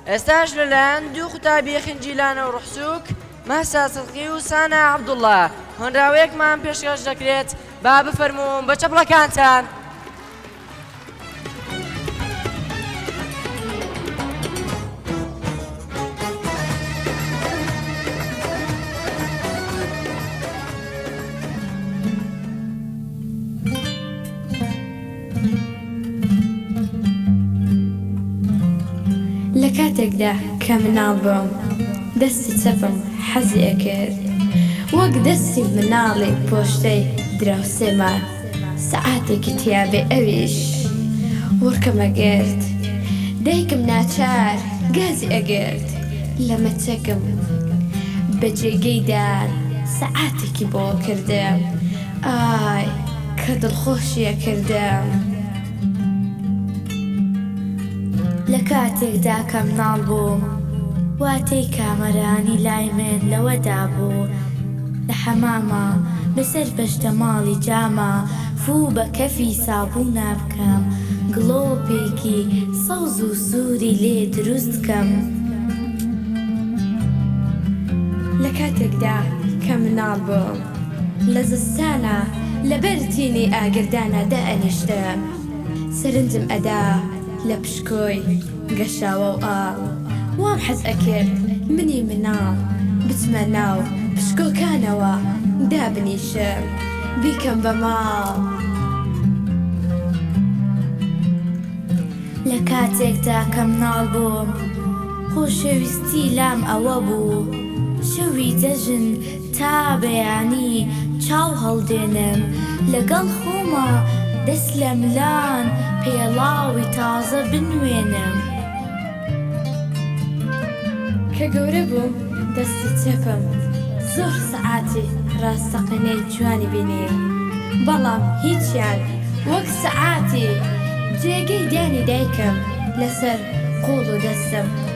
ئێستاش لەلایەن دوو قوتابی خنجیلانە و ڕحسووک، مەهسا سدقی و سانا عەبدوڵا، هۆنراوەیەکمان پێشکەش دەکرێت، با بفەرمووم بە چەپڵەکانتان. لە کاتێکدا کە مناڵ بووم دەستی چەپم حەزی ئەکرد وەک دەستی مناڵی پۆشتەی دراوسێ مە سەعاتێکی تیا بێ ئەویش وڕکم ئەگرت دایکم ناچار گازی ئەگرت لە مە چەکم بە جێگەی دار سەعاتێکی بۆ کردم ئای کە دڵخۆشی ئەکردم لە کاتێکدا کە مناڵ بووم واتەی کامەرانی لای من لەوەدا بوو لە حەماما بەسەر پەشتەماڵی جاما فوو بە کەفی سابوونا بکەم گڵۆپێکی سەوز و سووری لێ دروست کەم لە کاتێکدا کە مناڵ بووم لە زستانا لە بەر تینی ئاگردانا دائەنیشتە سەرنجم ئەدا لە پشکۆی گەشاوەو ئا وام حەز ئەکرد منی مناڵ بچمە ناو پشکۆکانەوە دابنیشم بیکەم بە ماڵ. لە کاتێکدا کە مناڵ بووم خۆشەویستی لام ئەوە بوو شەوی جەژن تا بەیانی چاو هەڵدێنم لەگەڵ خۆما دەست لە ملان پێڵاوی تازە بنوێنم. کە گەورە بووم دەستی چەپم زۆر سەعاتی ڕاستەقینەی جوانی بینی، بەڵام هیچیان وەک سەعاتی جێگەی دانی دایکم لەسەر قۆڵ و دەستم.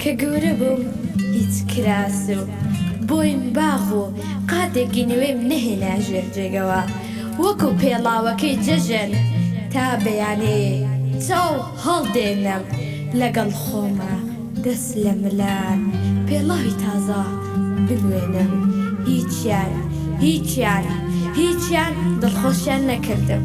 کە گەورە بووم هیچ کراس و بۆین باغ و قاتێک گینوێم نەهێنا ژێر جێگەوە وەکو پێڵاوەکەی جەژن تا بەیانێ چاو هەڵدێنم لەگەڵ خۆما دەست لە ملان پێڵاوی تازە بنوێنم هیچیان هیچیان هیچیان دڵخۆشیان نەکردم.